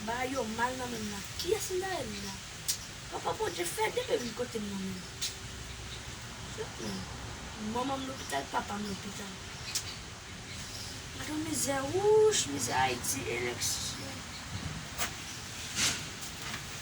Bagay yo mal nan menm la. Kiyes m ta rele la. Papa bondye fè de ri kotem nan menm. Fèt menm. Manmanm lopital papam lopital. Gadon mizè wouch mizè ayiti eleksyon.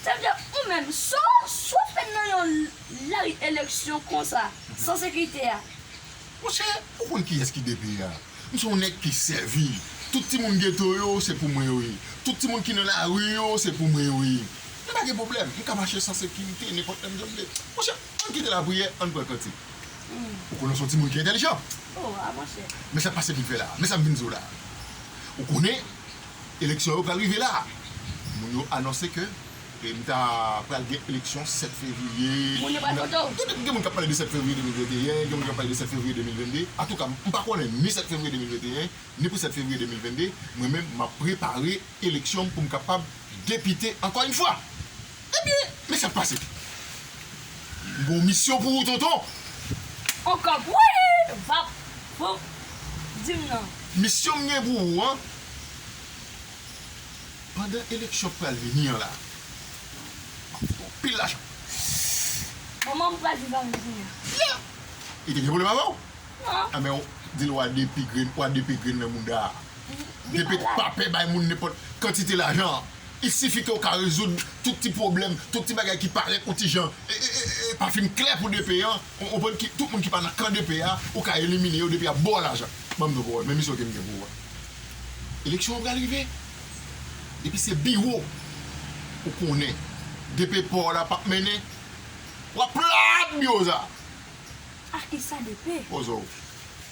Tande ou menm, sa w fè nan yon lari eleksyon konsa, san sekirite a? Monchè, ou konn kiyès ki DP a? M se yon nèg ki sèvi. Tout timoun geto yo, se pou mwen yo ye. Tout timoun ki nan lari yo, se pou mwen yo ye. M pa gen pwoblèm. M ka mache san sekirite, nenpòt lè m jan m vle. Monchè, ann kite lapriyè, ann pran kantik. Ou konnen w se yon timoun ki entèlijan. Men sa k pase pi fè la a. Men sa m vin di w la a. Ou konnen. Eleksyon yo pral rive la a. Moun yo anonse ke m ta pral gen eleksyon 7 fevriye. Moun yo pral vote w. Petèt gen moun k ap pale de 7 fevriye 2021, gen moun k ap pale de 7 fevriye 2022. Antouka, m pa konnen ni 7 fevriye 2021, ni pou 7 fevriye 2022. Mwen menm, m ap prepare eleksyon m pou m kapab depite ankò yn fwa. Ebyen, men sak pase. M gon misyon pou ou tonton. On kap wouy! Vap! Voup! Di m non. Misyon m gen pou ou an, pandan eleksyon k pral vini an la, m ap fout ou anpil lajan. Manman m pral viv avè m kounye a. Fia! Li te gen pwoblèm avè w? Non. Anben w di l w a depi grenn, w a depe grenn nan mouda a. Depe k pa pè bay moun nenpòt kantite lajan. Il sifi ke w ka rezoud tout ti pwoblèm, tout ti bagay ki parèt yon ti jan pa fin klè pou DP an, ou konprann, tout moun ki pa nan kan DP a, ou ka elimine yo depi y ap ba w lajan. Ban m nou pawòl, men misyon ke m gen pou ou a. Eleksyon an pral rive. Depi se biwo, ou konnen DP pa w la p ap mennen, w ap plat biwo sa a. Ah e sa DP? Poze w.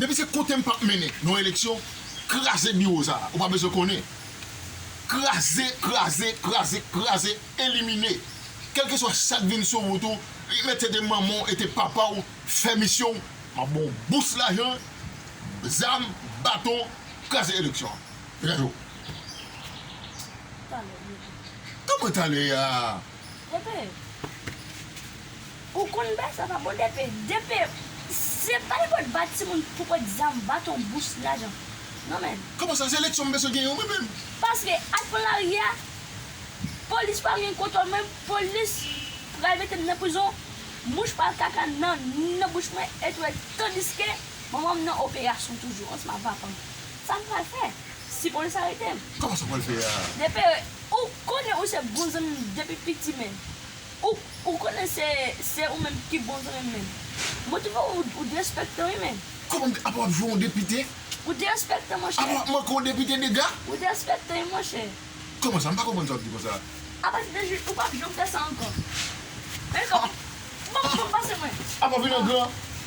Depi se kote m pap mennen nan yon eleksyon, kraze biwo sa a, ou pa bezwen konnen. Kraze, kraze, kraze, kraze, elimine. Kèlkeswa sa k vin sou wout ou, mete de manman w e te papa w, fè misyon w, m ap ba w bous lajan, zam, baton, kraze eleksyon an. Degaje w. Talè, mwen te. Kòman talè a? Mwen te. Ou konn bay sa pa bon DP. DP se pa nenpòt bat timoun pou kont zam, baton, bous, lajan non menn. Kòman sa se leksyon m bezwen gen yo mwen menm. Paske ak plan lari a polis pa gen kontòl mwen polis pral metem nan prizon mouch pral kaka nan bouch mwen et ou et tandiske manmanm nan operasyon toujou ansanm ak papanm sam pral fè si polis aretem. Kòman sa pral fè a. DP ou konnen ou se bon zanmim depi piti menn. Ou konnen se ou menm ki bon zanmim men. Mwen twouve ou derespektan wi men. Kòman m ap wap jwe yon depite. Ou derespektan monchè. Apa wap manke yon depite dega. Ou derespektan wi monchè. Kòman sa m pa konprann sa wap di konsa. Apa se te jwe ou pap janm fè sa ankò. Banm banm banm pase mwen. Apa vin angran.